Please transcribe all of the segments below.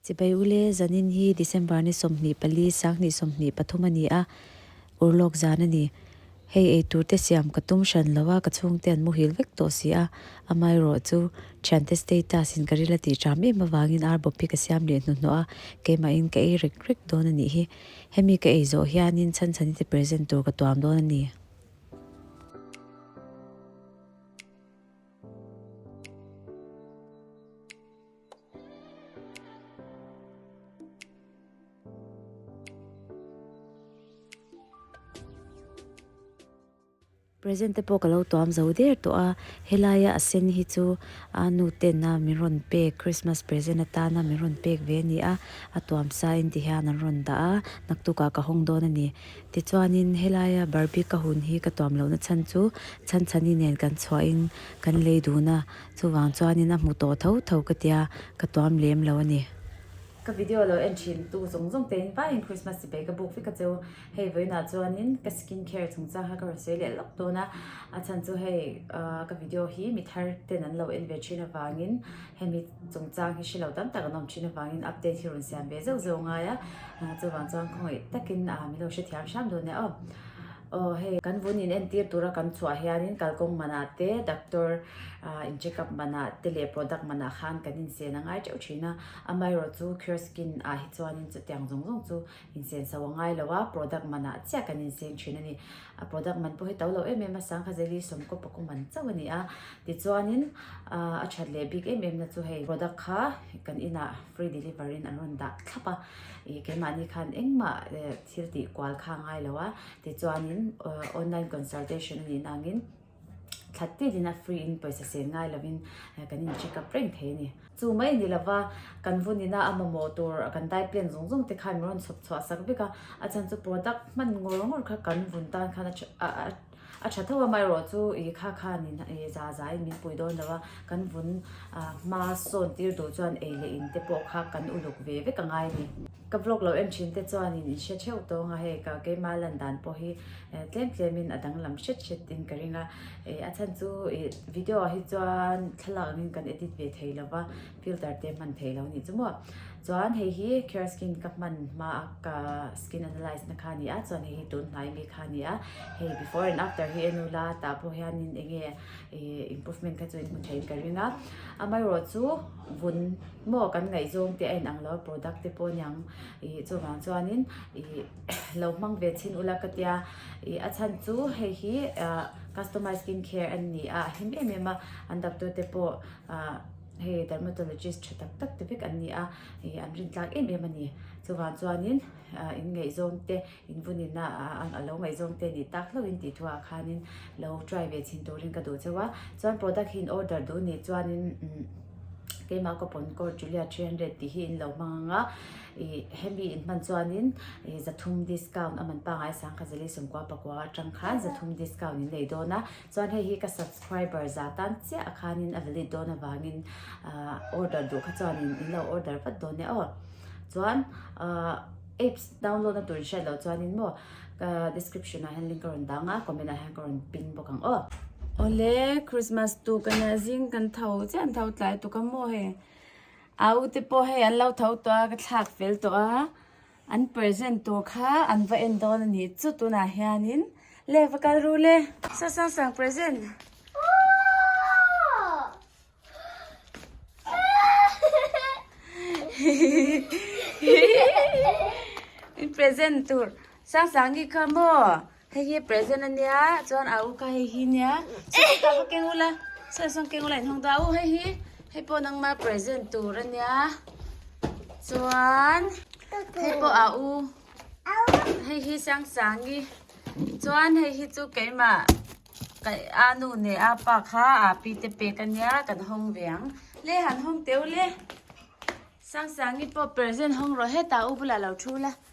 Chibai u le, zanin hi December ni sawmhnih pali, sanghnih sawmhnih pathum a ni a, ur lawk zan a ni. Hei eitur te siam ka tum hran lo a, ka chhungte an muhil vek tawh si a, amaherawh chu thiante status in ka ril a tih ṭam em avangin rbawp hi ka siam leh hnuhnawh a, keimahin ka ei rek rek dawn a nih hi. Hemi ka ei zawh hianin Chhanchhani te present tur ka tuam dawn a ni. Present te pawh ka lo tuam zo der tawh a, helaia a sen hi chu a nu tenna min rawn pek Christmas present atana min rawn pek ve a ni a, a tuam sa in ti hian an rawn dah a, naktuk ah ka hawng dawn a ni. Tichuanin helaia Barbie ka hun hi ka tuam lohna chhan chu Chhanchhani nen kan chhuah in kan lei dun a, Chuvang chuanin a hmu tawh tho tho ka tia ka tuam lem lo a ni. Ka video lo en thin tu zawng zawng tein paiin Christmas ti pei ka buk vek a cheu. Hei vawiinah chuanin ka skin care chungchang kha ka rawn sawi leh lawk dawn a. A chhan chu hei ka video hi mi thar ten an lo en ve thin avangin hemi chungchang hi hre lo tam tak an awm thin avangin update hi rawn siam ve zeuh zeuh ngai a. Chuvang chuan khawngaih takin mi lo hrethiam hram dawn nia aw. Aw hei, kan vun in entir tur a kan chhuah hian in kalkawng manah te, doctor in check up manah te leh product manah khan kan in sen a ngai teuh thin a. Amaherawh chu Cure Skin ah hi chuan in chutiang zawng zawng chu in sen so a ngai lo a, product manah chiah kan in seng thin a ni. A product man pawh hi to lo em em a, sangkha jelly sawmkaw paku man chauh a ni a. Tichuan in a that leh bik em em na chu hei product kha kan inah free delivery in an rawn dah thlap a. Ih keimahni khan engmah eh. Thil tih kual kha ngai lo a, tichuanin online consultation a nihna angin thla tilin a free in pawisa sen ngai lovin kan in check up reng thei a ni. Chu mai ni lova kan vun in a a mamawh tur kan dai plan zawng zawng te khan min rawn chhawp chhuah sak vek a, a chhan chu product hman ngawr ngawr kha kan vun tan khan a a. A tha tho amaherawh chu ih kha khanin ih za za in min pui dawn lo a, kan vun ah hma sawn tir duh chuan ei leh in te pawh kha kan uluk ve vek a ngai a ni. Ka vlog lo en thin te chuanin in hre theuh tawnga hei ka keima lan dan pawh hi eh tlem tlem in a danglam hret hret in ka ring a, eh a chhan chu ih video ah hi chuan thlalak angin kan edit ve thei lo va. Filter te hman thei lo ni chu maw. Chuan hei hi care skin ka hman hma a ka skin analyse na kha a ni a, chuan hei hi tun hnai mi kha a ni a, hei before and after hi en ula tah pawh hian in eng nge improvement kha chu in hmu thei in ka ring a, amaherawh chu vun maw kan ngaihzawng te a in ang lo a product te pawh a niang ih chuvang chuan in ih lo hmang ve chhin ula ka tia ih a chhan chu hei hi customise skin care a ni a, a him em em a an doctor te pawh ah. Hei dermatologist tha tak tak te vek an ni a, ih an rin tlak em em a ni. Chuvang chuanin ah in ngaihzawng te, in vun in a ah alo ngaihzawng te nih tak hlauhin tih thu ah khanin lo try ve chhin turin ka duh chauh a. Chuan product hi in order duh nih chuanin umm keimah coupon-code Julia three hundred tih hi in lo hmang ang a, ih hemi in hman chuanin ih za thum discount a man pangai sangkhat zali sawmkua pakua atang khan za thum discount in nei dawn a. Chuan hei hi ka subscriber za tan chiah khanin a valid dawn avangin ahh order duh kha chuanin in lo order vat dawn nia aw. Chuan ahh apps download na tur in hriat loh chuanin maw ka description ah hian link ka rawn dang a comment ah hian ka rawn pin bawk ang aw. Awle Christmas tuka nia zing kan tho chiah an tho tlai tuk a maw hei. Aute pawh hei an lo tho tawh a ka thlak fel tawh a. An present tur kha an va en dawn a nih chu tunah hianin le va kal ru le. Sasangsang present. Hihihihi. In present tur Sangsang hi kha maw. Hei hi present a nia chuan a u kha hei hi nia chhungte ta kha keng ula chhungte sawn keng ula inhawng ta a u hei hi hei pawh nangma present tur a nia chuan hei pawh a u hei hi sang sangi chuan hei hi chu keimah kai a nu neh a pa kha a pi te pek a nia kan hawng ve ang le han hawng teu le sang sangi pawh present hawng rawh het a u bulah lo thu la.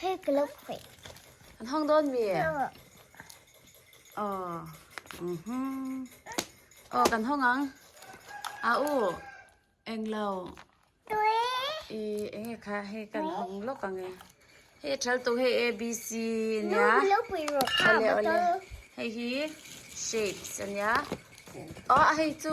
Hei ka lo khawih. An hawng dawn mi? Oh. Mhm. Oh, kan hawng ang. A u. Eng lo. Tui. I eng e kha hei kan hawng lawk ang e. Hei thal tu hei A B C nia. Lu lo pui ro kha. Ole ole. Hei hi shapes ania. Oh, hei chu.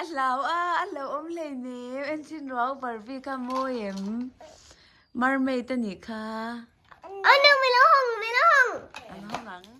a hlau a a lo awm hle nem en chin ruau barbie kha mawi em mermaid a nih kha an hawng ang.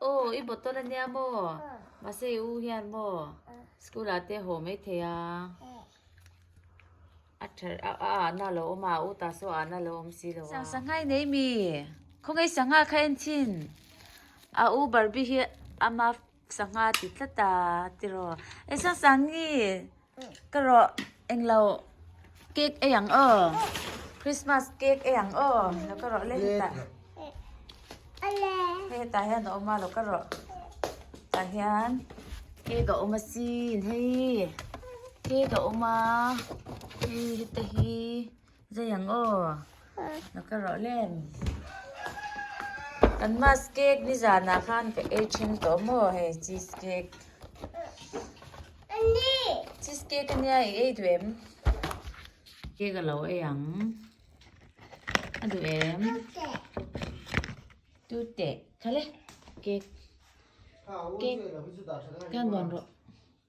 oh i bottle a nia maw mahse i u hian maw school ah te haw mai thei a a tha a ahna lo awm a a utah saw ahna lo awm si lo a sangha i nei mi khawngaih sangha kha en thin a u barbie hi ama Sangha ti tla ta tiraw. E Sangsani ka rawh englo cake ei ang aw. Christmas cake ei ang aw lo ka rawh le hetah. Hei hetah hian a awm a lo ka rawh. Tah hian cake a awm asin hei cake a awm a hei heta hi. Zei ang aw, na ka rawh lem. Kan mas cake ni zanah khan ka ei thin tawh maw hei cheese cake. Cheese cake ania i ei duh em? Cake a lo ei ang. A duh em? Tu teh. Khale. Cake. Cake. Ka nuan rawh.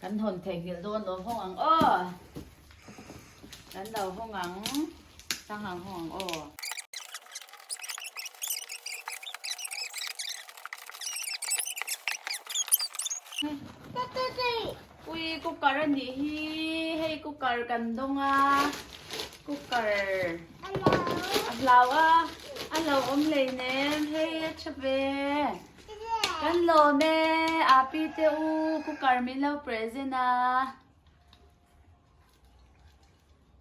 Kan hawn thei nghilh dawn lo hawng ang aw. Kan lo hawng ang. Sang hang hawng ang aw. Ui cooker a nih hi. Hei cooker kan dawng a. Cooker. Hello. A hlau a. A lo awm lei nem. Hei a chhe ve. Kan lawm e, Api te u, cooker min lo present a.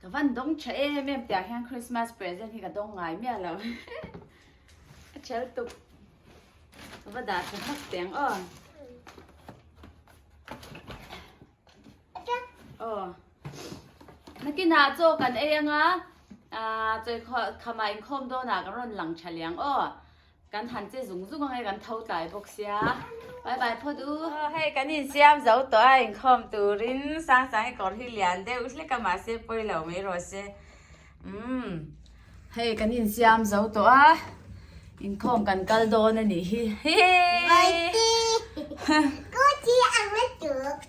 Ka van dawng tha em em tiang hian Christmas present hi ka dawng ngai miah lo. A chel tuk. Ka va dah tha hak tiang o. O. Nakina cho kan ei anga, a choi khamah in khawm dawnah kan rawn lang tha liang o. Kan han che zung zung ange kan tho tlai bawk sia. Bye bye Phawt u. Aw hei kan insiam zo tawh a inkhawm turin Sang Sangi kawr hi lian deuh hlek a mahse pawi lo mai rawh se. Umm hei kan insiam zo tawh a inkhawm kan kal dawn a nih hi. Hi! Vaite! Kawti ang a tuk.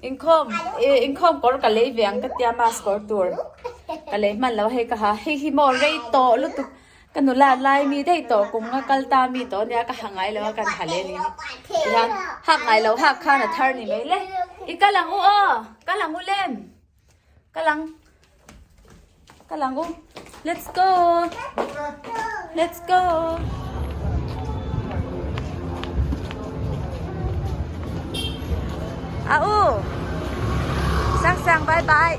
Inkhawm e inkhawm kawr ka lei ve ang ka tia mask kawr tur ka lei hman lo hei ka ha hei hi maw rei tawh lutuk ka nula lai mi dei tawh kung a kal ta mi tawh nia ka ha ngai lo a kan ha leh ni hi hak ngai lo hak khan a thar ni mai le i kal ang u aw kal ang u lem. Ka lang. Ka lang u. Let's go. Let's go. À u. Sang sang bye bye.